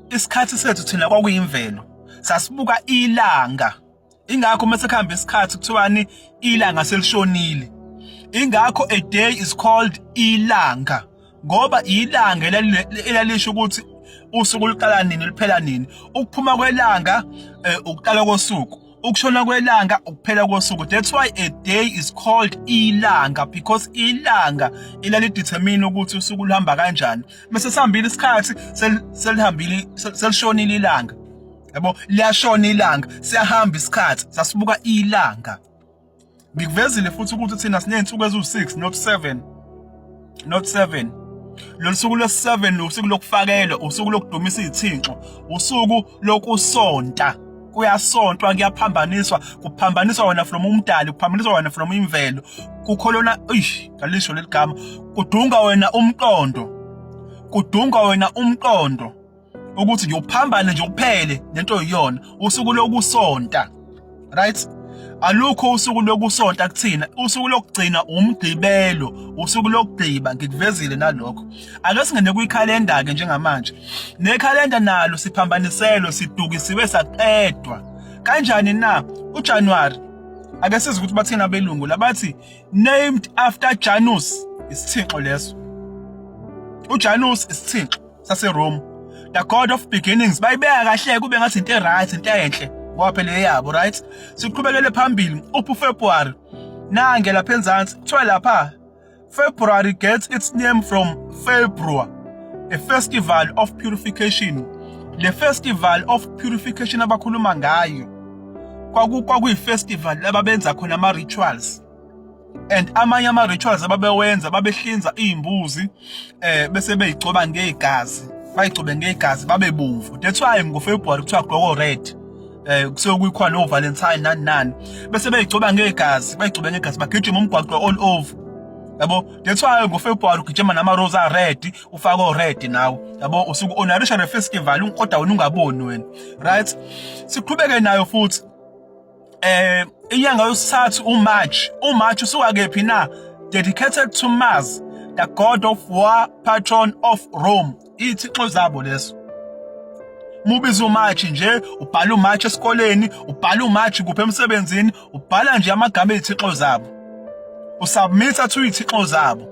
isikhathi sethu thina kwakuyimvelo sasibuka ilanga ingakho uma sekuhamba isikhathi kuthiwani ilanga selishonile ingakho a day is called ilanga ngoba ilanga elalisho ukuthi usuku luqala nini liphela nini ukuphuma kwelanga eh, ukuqala kosuku ukushona kwelanga ukuphela kosuku that's why a day is called ilanga because ilanga ilali determine ukuthi usuku luhamba kanjani bese sihambile isikhathi selihambile selishonile ilanga yabo liyashona ilanga siyahamba isikhathi sasibuka ilanga Ngikuvezile futhi ukuthi thina siney'nsuku eziwu-6 not 7 not 7 lolu suku lwesi-7 usuku lokufakelwa usuku lokudumisa izithinxo usuku lokusonta kuyasontwa kuyaphambaniswa kuphambaniswa wena from umdali kuphambaniswa wena from imvelo kukholona eish ngalisho leli gama kudunga wena umqondo kudunga wena umqondo ukuthi nje uphambane nje kuphele nento yiyona usuku lokusonta right alukho usuku lokusonta kuthina usuku lokugcina umgqibelo usuku lokugqiba ngikuvezile nalokho ake singene kwikhalenda ke njengamanje nekhalenda nalo siphambaniselwe sidukisiwe saqedwa kanjani na uJanuary ake sizi ukuthi bathina abelungu labathi named after Janus isithixo leso uJanus isithixo saseRome the god of beginnings bayibeka kahle kube ngathi into right into enhle ngoba phela eyabo right siqhubekele phambili uphu February nange lapha enzansi kuthiwa lapha February gets its name from February a festival of purification le festival of purification abakhuluma ngayo kwaku kwakuyi festival ababenza khona ama rituals and amanye ama rituals ababewenza babehlinza izimbuzi eh bese beyigcoba ngegazi bayigcobe ngegazi babe bomvu that's why ngo February kuthiwa gloko red eh kusuke kuyikhona no Valentine nani nani bese beyigcoba ngegazi bayigcobe ngegazi bagijima umgwaqo all over yabo that's why ngo February ugijima nama rose a red ufako red nawo yabo usuku honoration festival kodwa wena ungaboni wena right siqhubeke nayo futhi eh inyanga yosithathu uMarch uMarch usuka kephi na dedicated to Mars the god of war patron of Rome ithixo zabo leso mubiza uMarch nje ubhala uMarch esikoleni ubhala uMarch kuphe emsebenzini ubhala nje amagama ezithixo zabo usubmita to izithixo zabo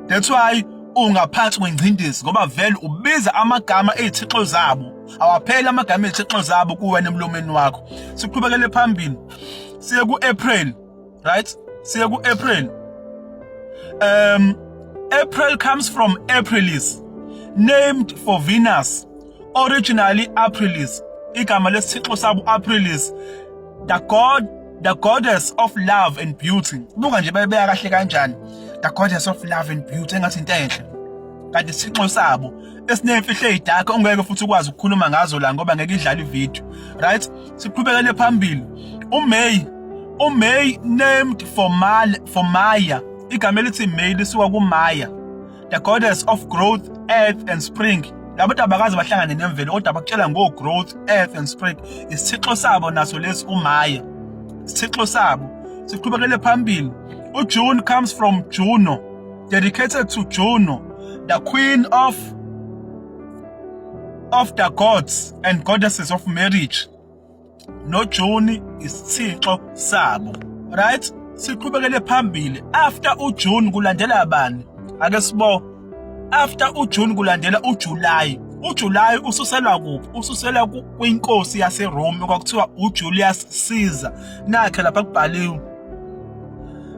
that's why ungaphansi kwengcindezi ngoba vele ubiza amagama ezithixo zabo awapheli amagama ezithixo zabo kuwena emlomeni wakho siqhubekele phambili siye ku-april right siye ku-april um april comes from aprilis named for venus originally aprilis igama lesithixo sabo aprilis the god the goddess of love and beauty buka nje babeya kahle kanjani the goddess of love and beauty engathi into enhle kanti isithixo sabo esinemfihlo ezidark ongeke futhi ukwazi ukukhuluma ngazo la ngoba ngeke idlale ivideo right siqhubekele phambili uMay uMay named for Mal for Maya igama elithi May lisuka kuMaya the goddess of growth earth and spring labo tabakazi bahlangane nemvelo kodwa bakutshela ngo growth earth and spring isithixo sabo naso lesi uMaya isithixo sabo siqhubekele phambili uJune comes from Juno Dedicated to Juno, the queen of of the gods and goddesses of marriage. No June is Thixo sabo. Right? Siqhubekele phambili. After uJune kulandela bani? Ake sibo. After uJune kulandela uJuly. uJulayi ususelwa kuphi ususelwa kwinkosi yaseRome kwakuthiwa uJulius Caesar nakhe lapha kubhaliwe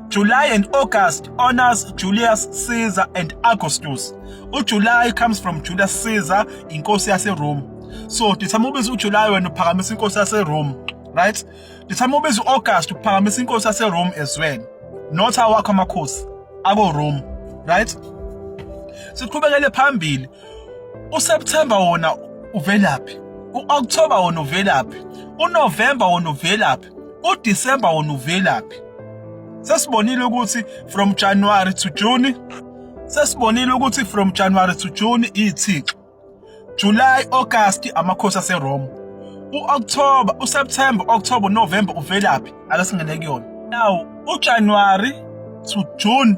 July and August honors Julius Caesar and Augustus. UJuly comes from Julius Caesar, inkosi yaseRome. So dithama ubiza uJuly wena uphakamisa inkosi yaseRome, right? Dithama ubiza uAugust uphakamisa inkosi yaseRome as well. Not awakho amakhosi ako Rome, right? Siqhubekele phambili uSeptember wona uvelaphi u-October wona uvelaphi uNovember wona uvelaphi uDecember wona uvelaphi sesibonile ukuthi from January to June sesibonile ukuthi from January to June iyithixo July August amakhosi aseRome uOctober uSeptember October November uvelaphi ake singene kuyona now uJanuary to June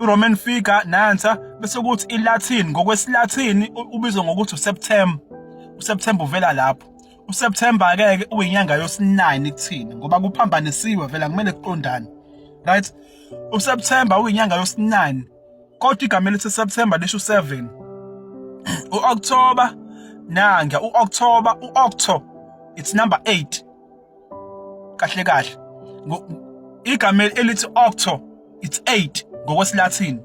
iRoman figure nansa bese kuthi iLatin ngokwesiLatin ubizwa ngokuthi uSeptember uSeptember uvela lapho uSeptember ke ke uyinyanga yosinani kuthina ngoba kuphambanisiwe vela kumele kuqondane right uSeptember uyinyanga yosinani kodwa igama elithi September lisho 7 uOctober nanga uOctober uOcto it's number 8 kahle kahle igama elithi octo it's 8 ngokwesilathini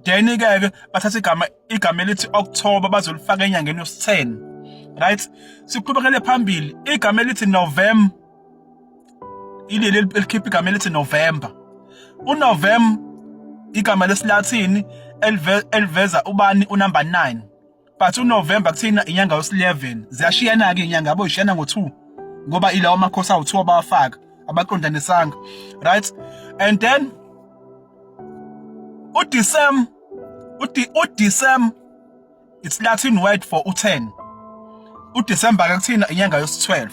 then ke ke bathatha igama igama elithi October bazolifaka enyangeni yesi10 right siqhubekele phambili igama elithi November ileli elikhipha igama elithi November uNovember igama lesilathini eliveza ubani unumber 9 but uNovember kuthina inyanga yos11 ziyashiyana ke inyanga yabo ishiyana ngo2 ngoba ilawo amakhosi awu2 abawafaka abaqondanisanga right and then uDecem uthi uDecem it's Latin word for u10 uDecember ke kuthina inyanga yos12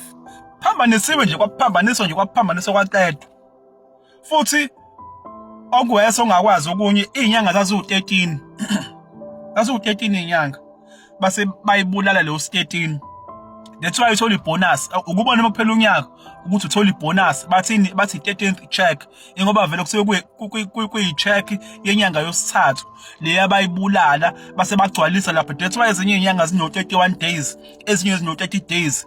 phambanisiwe nje kwaphambaniswa nje kwaphambaniswa kwaqedwa futhi okwese ongakwazi okunye izinyanga zaziwu13 zaziwu13 izinyanga base bayibulala leyo 13 that's why uthola ibonus ukubona uma kuphela unyaka ukuthi uthola ibonus bathini bathi 13th check ingoba vele kusuke kuyi check yenyanga yosithathu le abayibulala base bagcwalisa lapha that's why ezinye inyanga zino 31 days ezinye zino 30 days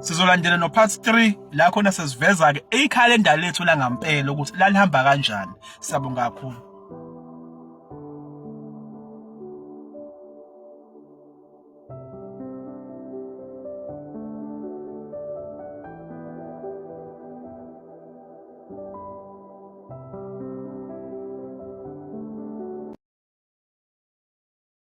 Sizolandela no part 3 la khona sesiveza ke ikhalenda lethu la ngampela ukuthi lalihamba kanjani. Siyabonga kakhulu.